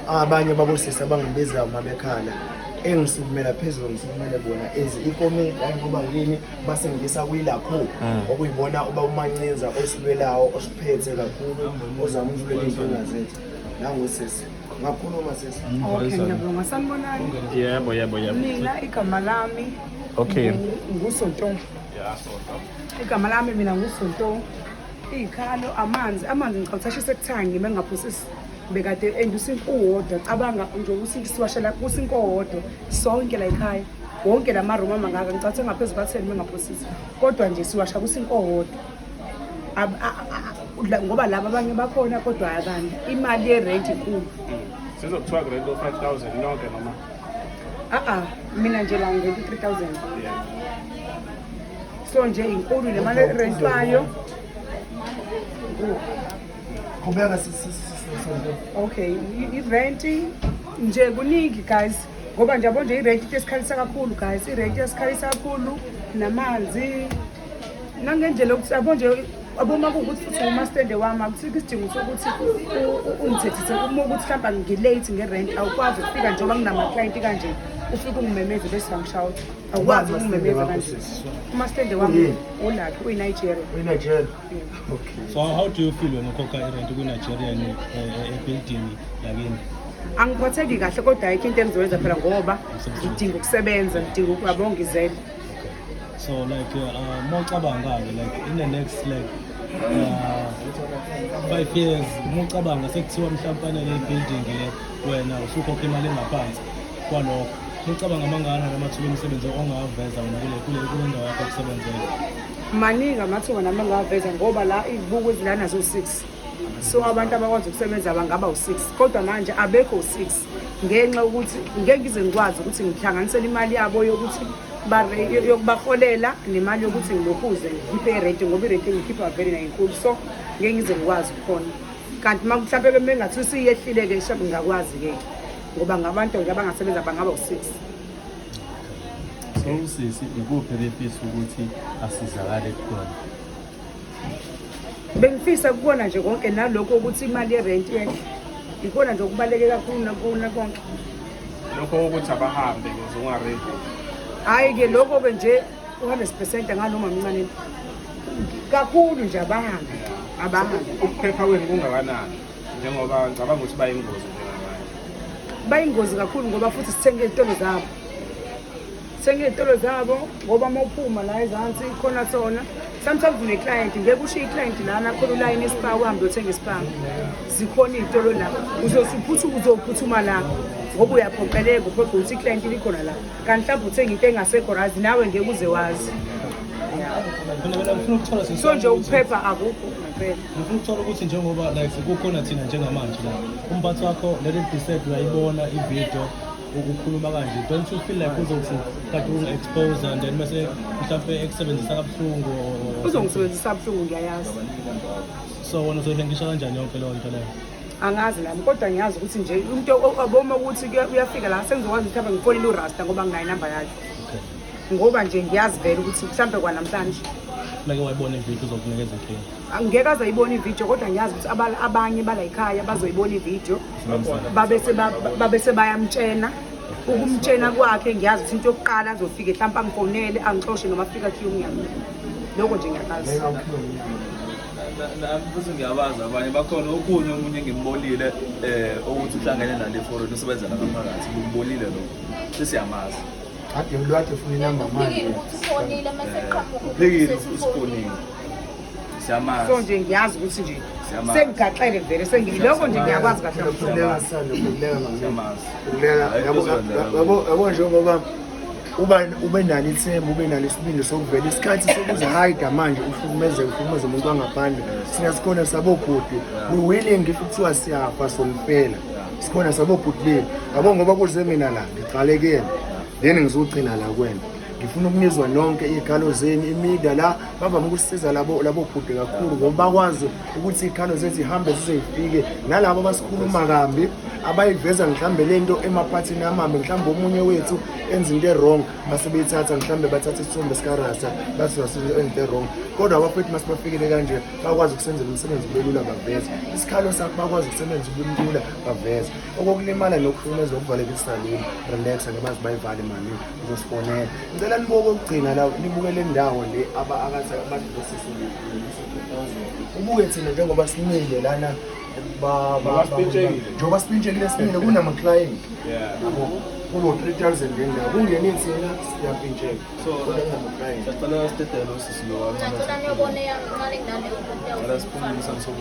abanye babosisi abangibiza uma bekhala engisukumela phezulu ngisukumele bona as ikomedi hayi ngoba yini basengisa kwilapho mm. okuyibona uba umancinza osilwelawo osiphethe kakhulu ozama ukulwela izinkinga zethu nangosisi ngakhuluma sisi okay ngiyabonga sanibonani yebo yebo yebo mina igama lami okay ngusonto yeah sonto igama lami mina ngusonto izikhalo amanzi amanzi ngicabanga ukuthi ashise kuthanga ngime ngaphosisi bekade and usinto uwodwa cabanga nje usinto siwashela kusinto owodwa sonke la ekhaya wonke la maroom amangaka ngicathe ngaphezu kwatheni mengaphosisi kodwa nje siwasha kusinto owodwa ngoba laba abanye bakhona kodwa akanti imali yerent inkulu hmm. sizokuthiwa kurent o-five thousand nonke noma a-a mina nje la ngirent u-three thousand so nje inkulu le mali erentwayo Qhubeka sisi. Okay, i-rent nje kuningi guys ngoba nje yabo nje i-rent into esikhalisa kakhulu guys i-rent esikhalisa kakhulu namanzi nangendlela yokuthi yabo nje aboma kuwukuthi futhi umastende wami akusikho isidingo sokuthi ungithethise uma ukuthi mhlawumbe ngilate nge-rent awukwazi ukufika njengoba nginama-clienti kanje ufike ungimemeze bese bangishawut awukwazi ukungimemeza kanje umastende wami olakhe uyinigeria So how do you feel when ukhokha irent kwi-Nigeria ebuilding yakini? Angiphatheki kahle kodwa ayikho into engizoyenza phela ngoba ngidinga ukusebenza, ngidinga ukuyabo ngizele. So like uh, mawucabanga-ke like in the next like uh, five years mucabanga sekuthiwa mhlawumpe anele ibuilding le wena usukhokha imali engaphansi kwalokho mucabanga amangana namathuba omsebenzi ongawaveza wena kule ndawo yakho yokusebenzela maningi amathuba nami angawaveza ngoba la izibuko ezilana zo-six so abantu abakwazi ukusebenza bangaba u-six kodwa manje abekho u-six ngenxa yokuthi ngeke ngize ngikwazi ukuthi ngihlanganisele imali yabo yokuthi yokubaholela nemali yokuthi ngilokhuze ngikhiphe irenti ngoba irenti engikhipha vele nayinkulu so ngeke ngize ngikwazi ukukhona kanti uma mhlawumpe bemengathi usiyehlile-ke shabe ngingakwazi-ke ngoba ngabantu nje abangasebenza bangaba u-six So usisi ikuphi befisa ukuthi asizakale khona? Bengifisa kubona nje konke nalokho ukuthi imali yerent yehle. Ikona nje okubaleke kakhulu nakona konke. Lokho ukuthi abahambe ngizungaredi. Hayi ke lokho ke nje 100% nganoma mncane. Kakhulu nje abahambe. Abahambe. Ukuphepha kwenu kungakanani? njengoba ngicabanga ukuthi bayingozi bayingozi kakhulu ngoba futhi sithenga izitolo zabo sithenga izitolo zabo ngoba uma uphuma la ezansi khona sona sometimes uneclient ngeke usho iclient lana khona ulayini esipa uhambe othenga isipa zikhona iy'tolo la uzosuphutha uzophuthuma la ngoba uyaphoqeleka uphoqa ukuthi iclient likhona la kanti mhlawumbe uthenga into engasekho razi nawe ngeke uze wazi so nje ukuphepha akukho ngempela ngifuna ukuthola ukuthi njengoba like kukhona thina njengamanje la umphathi wakho leli dissect uyayibona ividiyo ukukhuluma kanje don't you feel like uzothi kade ungi-expose and then mase mhlawumpe ekusebenzisa kabuhlungu uzongisebenzisa kabuhlungu ngiyayazi so wona uzoyihlengisha kanjani yonke leyo nto leyo angazi nami kodwa ngiyazi ukuthi nje into aboma ukuthi uyafika la sengizokwazi ukuthi abe ngifonile urasta ngoba nginayo inamba yakhe ngoba nje ngiyazi vele ukuthi mhlawumbe kwanamhlanje like wayibona ividiyo uzokunikeza inkinga angeke aze ayibona ividiyo kodwa ngiyazi ukuthi abanye balayikhaya bazoyibona ividiyo babe sebayamtshena ukumtshena kwakhe ngiyazi ukuthi into yokuqala azofike mhlawumpe angifonele angixoshe noma afika khiye umnyango loko nje ngiyakazi nami futhi ngiyabazi abanye bakhona okunye omunye ngimbolile um ukuthi uhlangene nale foreign usebenza nabaphakathi ngimbolile lokho sesiyamazi ade ulwade funa inamba manje uphikile usifonile siyamazi so nje ngiyazi ukuthi nje Siyamazi. sengigaxele vele sengiloko nje ngiyakwazi kahle kakhulu. Ukuleka sana, ukuleka mama. siyamazi Ukuleka, Hayi, yabo- kuzwakala. yabo- yabo njengoba uba- ube nalo ithemba ube nalo isibindi sokuvela isikhathi sokuzihayida manje uhlukumeze uhlukumeze umuntu wangaphandle sina sikhona sabobhuti we willing if kuthiwa siyafa sompela sikhona sabobhuti benu yabo ngoba kuze mina la ngiqale kuyena then ngizogcina la kwena ngifuna ukunizwa nonke iy'khalo zenu imida la bavame ukusiza labo labo bhuti kakhulu ngoba bakwazi ukuthi iy'khalo zethu zihambe zize zifike nalabo abasikhuluma kambi abayiveza mhlawumbe le nto emaphathini amambe mhlawumbe omunye wethu enza into e-wrong base beyithatha mhlawumbe bathatha isithombe sikarasa bathi wasenza into e-wrong kodwa abafethu masibafikile kanje bakwazi ukusenzela umsebenzi ubelula baveze isikhalo sakho bakwazi ukusebenza ubulula baveze okokulimala nokuhlukumeza okuvalekisa lini relaxa ngebazi bayivale mani uzosifonela ngicela nibuke okugcina la nibuke le ndawo le abakathi abantu ubuke thina njengoba simile lana njengoba sipintshekile simile kunama-client kuno-three thousand ngendawo kungene thina siyampintsheka kodwa kunama-client